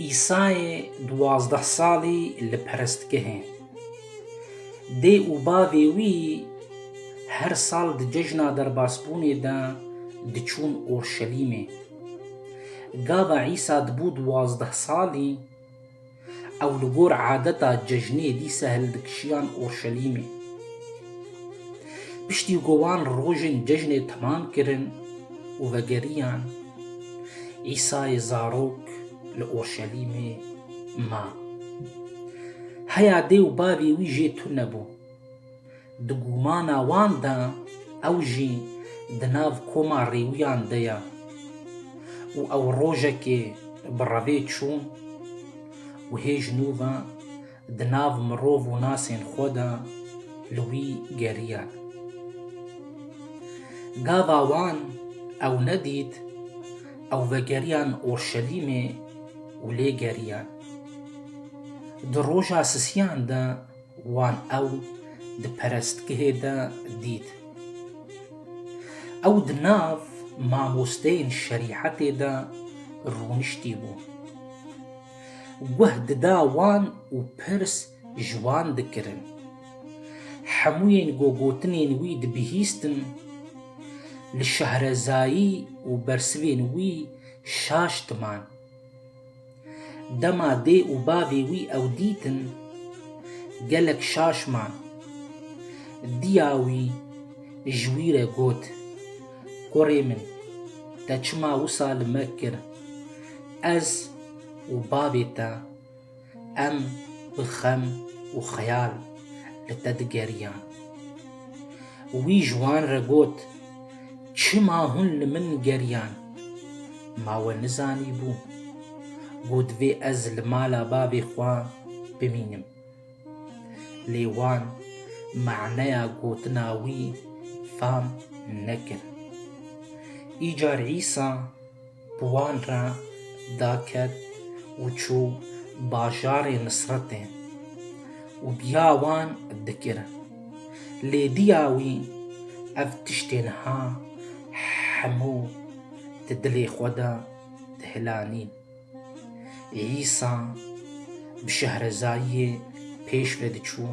Îsayê duwazdeh salî li perestgehê dê û bavê wî her sal di cejna derbasbûnê de diçûn Orşelîmê. Gava Îsa dibû duwazdeh salî, Ew li gor adeta cejnê dîsa hildikişiyan Urşelîmê. Piştî ku wan rojên cejnê temam kirin û vegeriyan, Îsayê zarok li Urşelîmê ma. Heya dê û bavê wî jê tune bû. Di gumana wan de ew jî di nav koma rêwiyan de ye û ew rojekê bi revê çû û hêj nû ve di nav mirov û nasên xwe de li wî geriye. Gava wan ew nedît, ew vegeriyan Orşelîmê û lê geriye. Di roja sisiyan de Wan ew di perestgehê de dît. Ew di nav mamosteyên şerîhetê de rûniştî bû. Guh dida wan û pirs ji wan dikirin. Hemûyên ku gotinên wî dibihîstin, li şehrezayî û bersivên wî şaş diman. Dema dê û bavê wî ew dîtin, gelek şaş man. Diya wî ji wî re got, Kurê min, te çima wisa li me kir? Ez û bavê te em bi xem û xeyal li te digeriyan. Wî ji wan re got, Çima hûn li min geriyan? Ma we nizanîbû ku divê ez li mala bavê xwe bimînim. Lê wan maneya gotina wî fam nekir. Îcar Îsa. bi wan re daket û çû bajarê Nisretê û biya wan dikir. Lê diya wî ev tiştê niha hemû di dilê xwe de dihilanîn. Îsa bi şehrezayiyê pêş ve diçû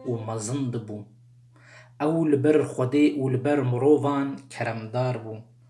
û mezin dibû. Ew li ber Xwedê û li ber mirovan keremdar bû.